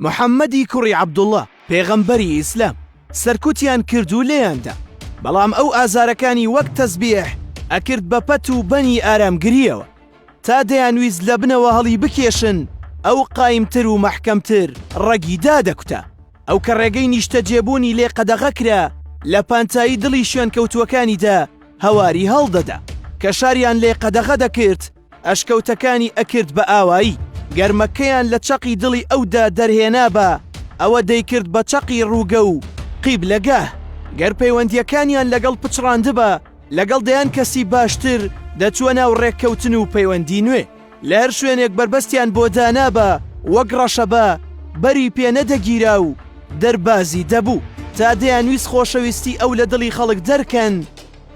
محەمەدی کوڕی عەبدوڵڵا، پێغەمبەری ئیسلام، سەرکوتیان کرد و لێیان دا، بەڵام ئەو ئازارەکانی وەک تەزبیح ئەکرد بە پەت و بەنی ئارامگرییەوە، تا دەیانویست لە بنەوە هەڵی بکێشن، ئەو قایمتر و مەحکەمتر ڕەگی دادەکوتا، ئەو کە ڕێگەی نیشتەجێبوونی لێ قەدەغە کرا، لە پانتایی دڵی شوێنکەوتووەکانیدا هەواری هەڵدەدا، کە شاریان لێ قەدەغە دەکرد، ئەشکەوتەکانی ئەکرد بە ئاوایی. گەرمەکەیان لە چەقی دڵی ئەودا دەرهێنابا، ئەوە دەیکرد بە چەقی ڕووگە و قیبلەگاه. گەر پەیوەندییەکانیان لەگەڵ پچڕاندبا، لەگەڵ دەیان کەسی باشتر دەچووە ناو ڕێککەوتن و پەیوەندی نوێ. لە هەر شوێنێک بەربەستیان بۆ دانابا، وەک ڕەشەبا بەری پێ نەدەگیرا و دەربازی دەبوو. تا دەیانویست خۆشەویستی ئەو لە دڵی خەڵک دەرکەن،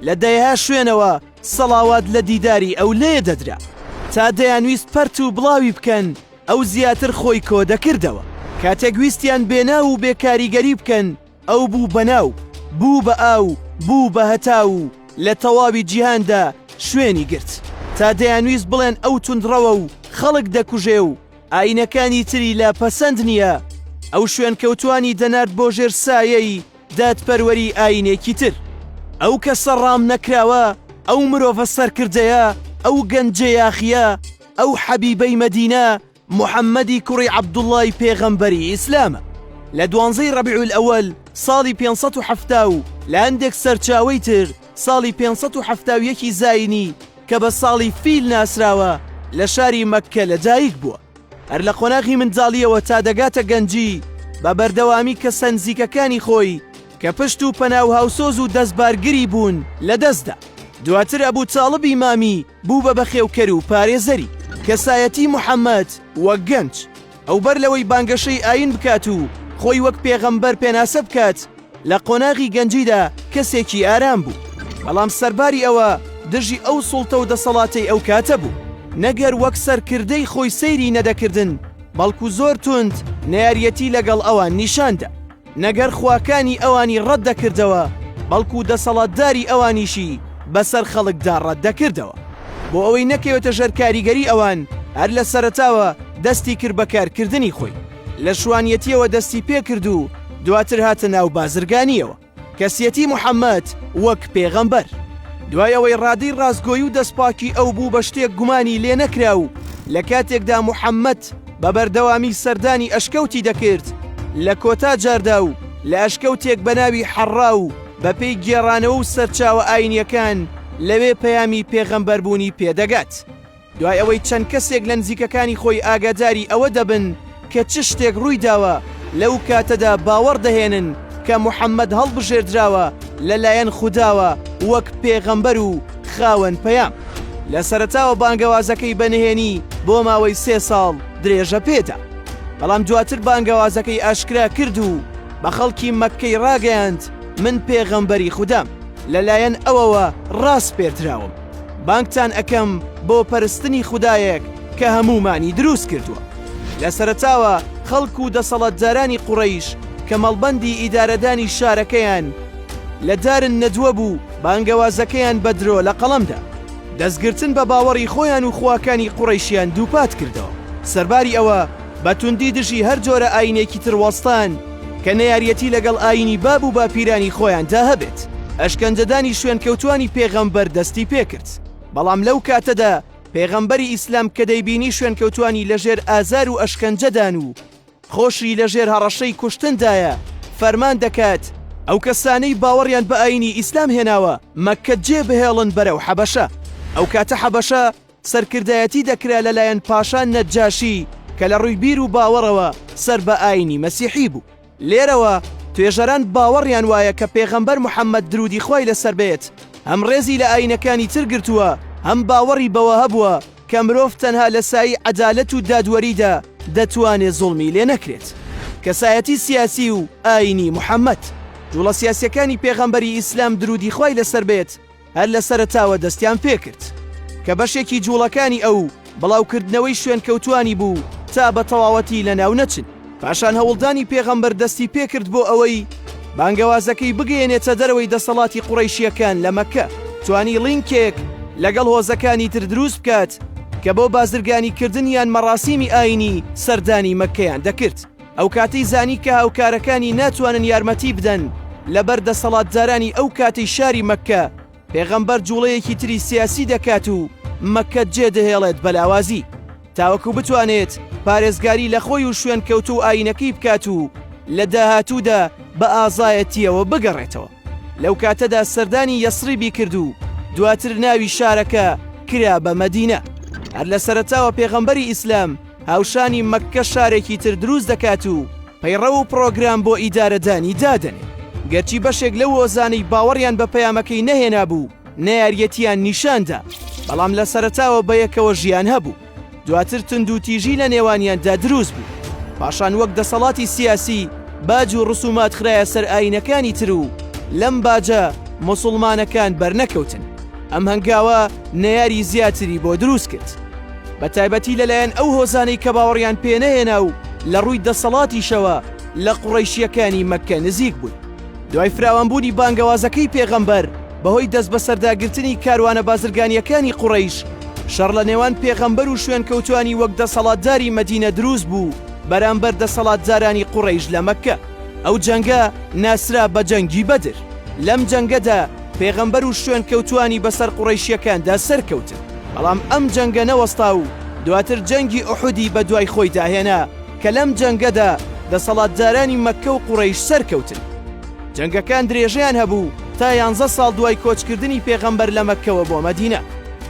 لە دەیەها شوێنەوە، سەڵاوات لە دیداری ئەو لێ دەدرا. تا دەیانویست پەرت و بڵاوی بکەن، ئەو زیاتر خۆی کۆ دەکردەوە. کاتێک ویستیان بێ ناو و بێ کاریگەری بکەن، ئەو بوو بە ناو، بوو بە ئاو، بوو بە هەتاو و لە تەواوی جیهاندا شوێنی گرت. تا دەیانویست بڵێن ئەو توندڕەوە و خەڵک دەکوژێ و ئایینەکانی تری لە پەسەند نییە، ئەو شوێنکەوتووانی دەنارد بۆ ژێر سایەی، دادپەروەری ئاینێکی تر. ئەو کەسە ڕام نەکراوە، ئەو مرۆڤە سەرکردەیە، ئەو گەنجە یاخییە، ئەو حەبیبەی مەدینە، محەممەدی کوڕی عەبدوڵڵای پێغەمبەری ئیسلامە. لە دوانزەی ڕەبیع الئەوەل ساڵی پێنج سەد و حەفتا و لە هەندێک سەرچاوەی تر ساڵی پێنج سەد و حەفتا و یەکی زایینی کە بە ساڵی فیل ناسراوە، لە شاری مەککە لەدایکبووە. هەر لە قۆناغی منداڵییەوە تا دەگاتە گەنجی، بە بەردەوامی کەسە نزیکەکانی خۆی کە پشت و پەنا و هاوسۆز و دەستبارگری بوون، لە دەست دا. دواتر ئەبوو تاڵبی مامی بوو بە بەخێوکەر و پارێزەری. کەسایەتی محەمەد وەک گەنج، ئەو بەر لەوەی بانگەشەی ئایین بکات و خۆی وەک پێغەمبەر پێناسە بکات، لە قۆناغی گەنجیدا کەسێکی ئارام بوو، بەڵام سەرباری ئەوە دژی ئەو سوڵتە و دەسەڵاتەی ئەو کاتە بوو، نەگەر وەک سەرکردەی خۆی سەیری نەدەکردن، بەڵکو زۆر توند نەیاریەتی لەگەڵ ئەوان نیشان دا، نەگەر خواکانی ئەوانی ڕەت دەکردەوە، بەڵکو دەسەڵاتداری ئەوانیشی بەسەر خەڵکدا ڕەت دەکردەوە. بۆ ئەوەی نەکەوێتە ژەر کاریگەری ئەوان، هەر لە سەرەتاوە دەستی کرد بە کارکردنی خۆی. لە شوانیەتیەوە دەستی پێکرد و دواتر هاتە ناو بازرگانیەوە کەسیەتی محەممەد وەک پێغەمبەر دوای ئەوەی ڕادەی ڕاستگۆی و دەستپاکی ئەو بوو بە شتێک گومانی لێ نەکرا و لە کاتێکدا محەممەد بە بەردەوامی سەردانی ئەشکەوتی دەکرد لە کۆتا جاردا و لە ئەشکەوتێک بە ناوی حەڕا و بەپێی گێڕانەوە و سەرچاوە ئاینیەکان لەوێ پەیامی پێغەمبەربوونی پێدەگات. دوای ئەوەی چەند کەسێک لە نزیکەکانی خۆی ئاگاداری ئەوە دەبن کە چ شتێک ڕووی داوە لەو کاتەدا باوەڕ دەهێنن کە محەممەد هەڵبژێردراوە لەلایەن خودداوە وەک پێغەمبەر و خاوەن پەیام. لە سەرەتاوە بانگەوازەکەی بە نهێنی بۆ ماوەی سێ ساڵ درێژە پێدا بەڵام دواتر بانگەوازەکەی ئاشکرا کرد و بە خەڵکی مەککەی ڕاگەیاند من پێغەمبەری خوددام لەلایەن ئەوەوە ڕاسپێردراوم. بانگتان ئەکەم بۆ پەرستنی خودایەک کە هەموومانی دروست کردووە لە سەرتاوە خەڵک و دەسەڵاتدارانی قوڕیش کە مەڵبەندی ئیدارەدانی شارەکەیان لە دارن نەدووە بوو بانگەوازەکەیان بە درۆ لە قەڵەمدا دەستگرتن بە باوەڕی خۆیان و خواکانی قوڕیشیان دووپات کردەوە سەرباری ئەوە بە توندی دژی هەر جۆرە ئاینێکی تر وەستان کە نەیاریەتی لەگەڵ ئاینی باب و باپیرانی خۆیاندا هەبێت. ئەشکەنجەدانی شوێنکەوتوانی پێغەمبەر دەستی پێکرد، بەڵام لەو کاتەدا پێغەمبەری ئیسلام کە دەیبینی شوێنکەوتوانی لەژێر ئازار و ئەشکەنجەدان و خۆشی لەژێر هەڕەشەی کوشتندایە، فەرمان دەکات ئەو کەسانەی باوەڕیان بە ئاینی ئیسلام هێناوە مەککە جێبهێڵن بەرەو حەبەشە. ئەو کاتە حەبەشە سەرکردایەتی دەکرا لە لایەن پاشا نەجاشی کە لە ڕووی بیر و باوەڕەوە سەر بە ئاینی مەسیحی بوو. لێرەوە توێژەران باوەڕیان وایە کە پێغەمبەر محەمەد درودی خوای لە سەر بێت هەم ڕێزی لە ئاینەکانی تر گرتووە هەم باوەڕی بەوە هەبووە کە مرۆڤ تەنها لە سایی عەدالەت و دادوەریدا دەتوانێ زوڵمی لێ نەکرێت. کەسایەتی سیاسی و ئاینی محەمەد. جوڵە سیاسیەکانی پێغەمبەری ئیسلام درودی خوای لە سەر بێت، هەر لە سەرەتاوە دەستیان پێکرد کە بەشێکی جوڵەکانی ئەو بڵاوکردنەوەی شوێنکەوتوانی بوو تا بە تەواوەتی لە ناو نەچن پاشان هەوڵدانی پێغەمبەر دەستی پێکرد بۆ ئەوەی بانگەوازەکەی بگەێنێتە دەرەوەی دەسەڵاتی قوڕیشیەکان لە مەکە توانی لینکێک لەگەڵ هۆزەکانی تر دروست بکات کە بۆ بازرگانیکردن یان مەڕاسیمی ئاینی سەردانی مەکەیان دەکرد ئەو کاتەی زانی کە هاوکارەکانی ناتوانن یارمەتی بدەن لەبەر دەسەڵاتدارانی ئەو کاتی شاری مەککە پێغەمبەر جوڵەیەکی تری سیاسی دەکات و مەکە جێ دەهێڵێت بەلاوازی تاوەکو بتوانێت پارێزگاری لە خۆی و شوێن کەوت و ئاینەکەی بکات و لە داهاتوودا بە ئازایەتیەوە بگەڕێتەوە لەو کاتەدا سەردانی یەسریبی کرد و دواتر ناوی شارەکە کرا بە مەدینە هەر لە سەرتاوە پێغەمبەری ئیسلام هاوشانی مەککە شارێکی تر دروست دەکات و پەیڕەو و پڕۆگرام بۆ ئیدارەدانی دادەنێ گەرچی بەشێک لەو هۆزانەی باوەڕیان بە پەیامەکەی نەهێنا بوو نەیاریەتیان نیشاندا بەڵام لە سەرتاوە بە یەکەوە ژیان هەبوو دواتر تند و تیژی لە نێوانیاندا دروست بوو پاشان وەک دەسەڵاتی سیاسی باج و ڕسومات خراە سەر ئاینەکانی تر و لەم باجە مسلمانەکان بەرنەکەوتن ئەم هەنگاوە نەیاری زیاتری بۆ دروست کرد بە تایبەتی لەلایەن ئەو هۆزانەی کە باوەڕیان پێنەهێنا و لە ڕووی دەسەڵاتیشەوە لە قوڕەیشییەکانی مەککە نزیک بوون دوای فراوانبوونی بانگەوازەکەی پێغەمبەر بەهۆی دەستبەسەرداگرتنی کاروانە بازرگانییەکانی قوڕەیش شەڕ لە نێوان پێغەمبەر و شوێنکەوتوانی وەک دەسەڵاتداری مەدینە دروست بوو بەرامبەر دەسەڵاتدارانی قوڕەیش لە مەککە. ئەو جەنگە ناسرا بە جەنگی بەدر، لەم جەنگەدا پێغەمبەر و شوێنکەوتووانی بەسەر قوڕەیشییەکاندا سەرکەوتن، بەڵام ئەم جەنگە نەوەستا و دواتر جەنگی ئوحودی بەدوای خۆیدا هێنا کە لەم جەنگەدا دەسەڵاتدارانی مەککە و قوڕەیش سەرکەوتن. جەنگەکان درێژەیان هەبوو تا یانزە ساڵ دوای کۆچکردنی پێغەمبەر لە مەککەوە بۆ مەدینە،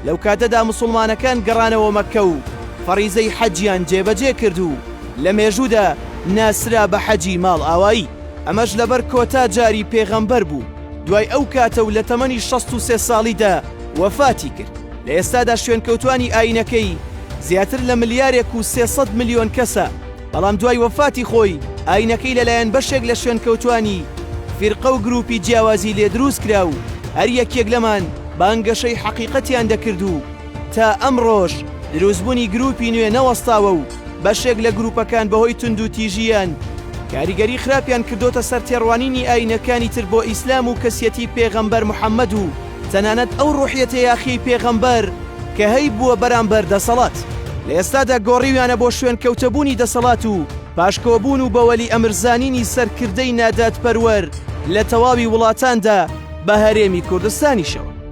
لەو کاتەدا موسڵمانەکان گەڕانەوە مەککە و فەڕیزەی حەجیان جێبەجێ کرد و لە مێژوودا ناسرا بە حەجی ماڵئاوایی، ئەمەش لەبەر کۆتا جاری پێغەمبەر بوو دوای ئەو کاتە و لە تەمەنی شەست و سێ ساڵیدا وەفاتی کرد، لە ئێستادا شوێنکەوتوانی ئایینەکەی زیاتر لە ملیارێک و سێ سەد ملیۆن کەسە، بەڵام دوای وەفاتی خۆی ئایینەکەی لەلایەن بەشێک لە شوێنکەوتوانی فیرقە و گروپی جیاوازی لێ دروست کرا و هەر یەکێک لەمان بانگەشەی حەقیقەتیان دەکرد و تا ئەمڕۆش دروستبوونی گرووپی نوێ نەوەستاوە و بەشێک لە گرووپەکان بەهۆی توندوتیژییان کاریگەری خراپیان کردۆتە سەر تێڕوانینی ئایینەکانی تر بۆ ئیسلام و کەسیەتی پێغەمبەر محەممەد و تەنانەت ئەو ڕووحیەتە یاخیەی پێغەمبەر کە هەیبووە بەرامبەر دەسەڵات. لە ئێستادا گۆڕیویانە بۆ شوێنکەوتەبوونی دەسەڵات و پاشکۆبوون و بە وەلی ئەمر زانینی سەرکردەی نادادپەروەر لە تەواوی وڵاتاندا بە هەرێمی کوردستانیشەوە.